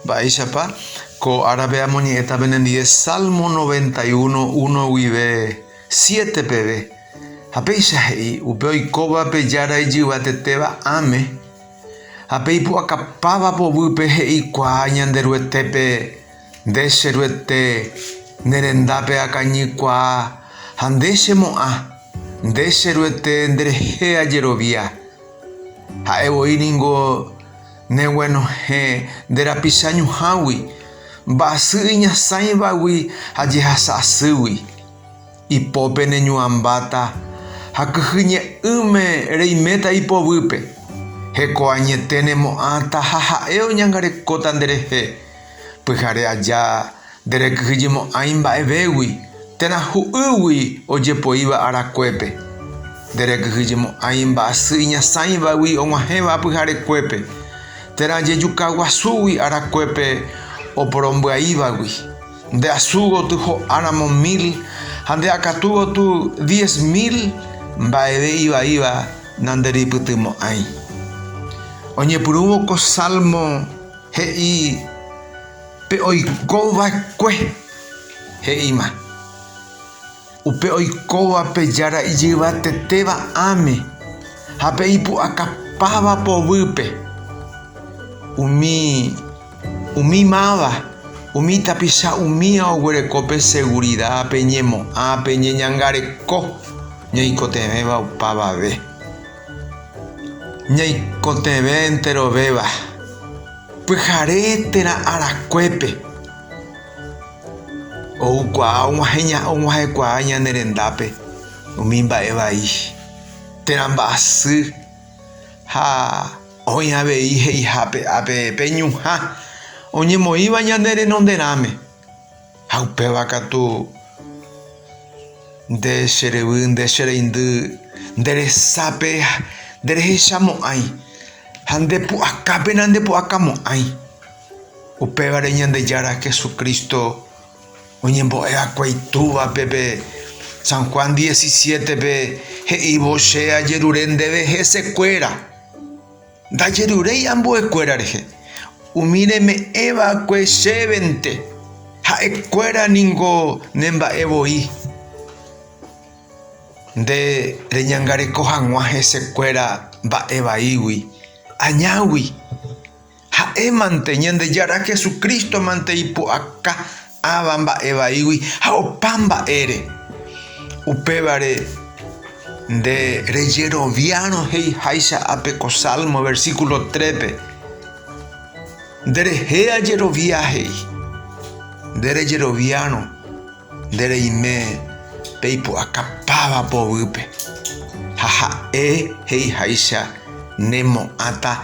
Mba'éichapa ko árape amoñe'ẽta penendive Salmo noventa y uno uno guive siete peve, ha péicha he'i, Upe oikóva pe Jára ijyvatetéva ãme, ha pe ipu'akapáva povýpe he'ikuaa Ñanderuetépe, Nde che Ruete, ne rendápe akañykuaa, ha nde che mo'ã, nde che Ruete nderehe ajerovia. Ha'e voi ningo. Neguenohẽ nde rapicha ñuhãgui, mba'asy iñasãivagui ha jehasa asýgui. Ipópe neñuãmbáta ha kyhy ñe'ỹme reiméta ipovýpe. Heko añete nemo'ãta ha ha'e oñangarekóta nderehe. Pyhare aja, nderekyhyjemo'ãi mba'evégui, térã hu'ýgui ojepoíva arakuépe. Nderekyhyjemo'ãi mba'asy iñasãivagui og̃uahẽva pyharekuépe, térã jejuka guasúgui arakuépe oporombya'ívagui. Nde asu goty ho'áramo mil ha nde akatu goty diez mil mba'eve ivaíva nanderipytymo'ãi. Oñepyrũvo ko Salmo. He'i, Pe oiko va'ekue. He'íma, Upe oikóva pe Jára ijyvatetéva ãme ha pe ipu'akapáva povýpe. Umi, umi máva, umi tapicha umía oguereko pe segurida, pe ñemo'ã, pe ñeñangareko ñoikotevẽva opavave. Ñaikotevẽ enterovéva, pyhare térã arakuépe oukuaa og̃uahẽkuaa ñane rendápe umi mba'e vai térã mba'asy ha oĩ avei he'ihápe pe ñuhã oñemoĩva ñane renonderãme. Ha upéva katu, nde che ryvy, nde che reindy, nde resápe nde rehecha mo'ãi, ha nde pu'aka pena nde pu'aka mo'ãi. Upévare Ñandejára Jesucristo oñembo'e va'ekue Itúvape pe San Juan 17-pe he'ívo, Che ajerure ndéve hese kuéra. Ndajeruréi ambuekuéra rehe, umi reme'ẽ va'ekue chévente, ha'ekuéra ningo ne mba'e voi. Nde reñangareko haguã hesekuéra mba'e vaígui, añágui. Ha'émante, Ñandejára Jesucristo mante ipu'aka Ãva mba'e vaígui ha opa mba'ére. Upévare nde rejeroviárõ he'iháicha ape ko Salmo versículo trépe, Nderehe ajerovia he'i. Nde rejeroviárõ nde reime pe ipu'akapáva poguýpe, ha ha'e he'iháicha ne mo'ãta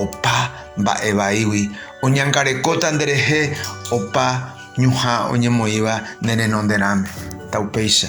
opa mba'e vaígui Oñangarekóta nderehe opa ñuhã oñemoĩva ne renonderãme, ta upéicha.